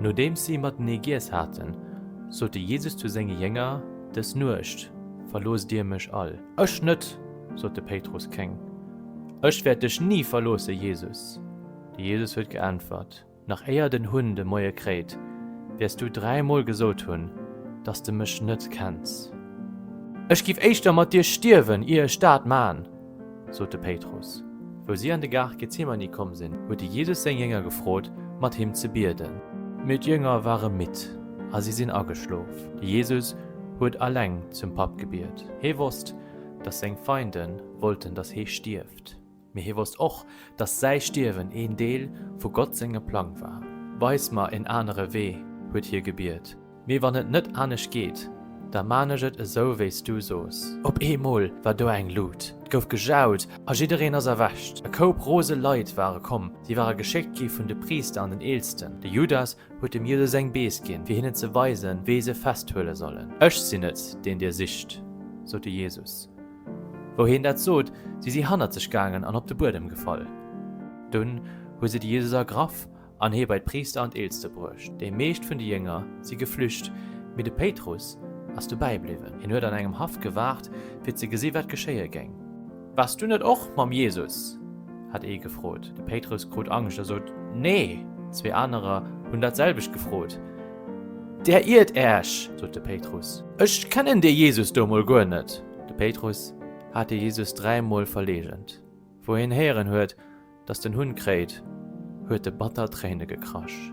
Nodeems si matenee giess haten, sot de Jesus zu senge Jénger, Dës Nuecht verloosst dir mech all. Ech net! sot de Péitrus kéng. Ech wäert dech ni verloosse, Jesus! De Jesus huet geäntwert, Nach éier den Hunn de Moie kréit, wäers du dräimol gesot hunn, dass de mech net kenns. Ech giff éischter mat dir stierwen, ier ech dat man! sot de Péitrus. Wou si an de Gaart Gethsemane komm sinn, huet de Jesus seng Jënger gefrot, mat him ze bieden. Mee d'Jënger ware midd a si sinn ageschlof. De Jesus huet alleng zum Papp gebiet. Hie wosst, dass seng Feinde wollten, dass hie stierft. Mee hie wosst och, dass säi Stierwen een Deel vu Gott sengem Plang war. Weis mer en anere Wee, huet hie gebiet. Mee wann et net anescht geet, da man ech et esou wéi s du soos. Op eemol war do eng Lut, 't gouf gejaut a jiddereen ass erwächt. E Koup rose Leit ware komm, si ware geschéckt gi vun de Priister an den Eelsten. De Judas huet dem Jesus eng Bees ginn, fir hinnen ze weisen, wéi se festhuele sollen. Ech sinn et, deen dir sicht, sot de Jesus. Wou hien dat sot, si si hannert sech gaangen an op de Buedem gefall. Dunn hu se de Jesus ergraff an hie bei d'Priister an d'Eelste bruecht. Déi meescht vun de Jünger si geflücht, mee de Péitrus ass dobäi bliwwen. Hien huet an engem Haff gewaart, fir ze gesi wat geschéie géing. Waars du net och mam Jesus? hat ee gefrot. De Péitrus krut Angscht a sot, Nee! Zwee anerer hunn dat selwecht gefrot. Der iert äech! sot de Péitrus. Ech kennen dee Jesus do emol guer net! De Péitrus hat de Jesus dräimol verleegent, wou hien héieren huet, dass den Hunn kréit, huet e batter Tréine gekrasch.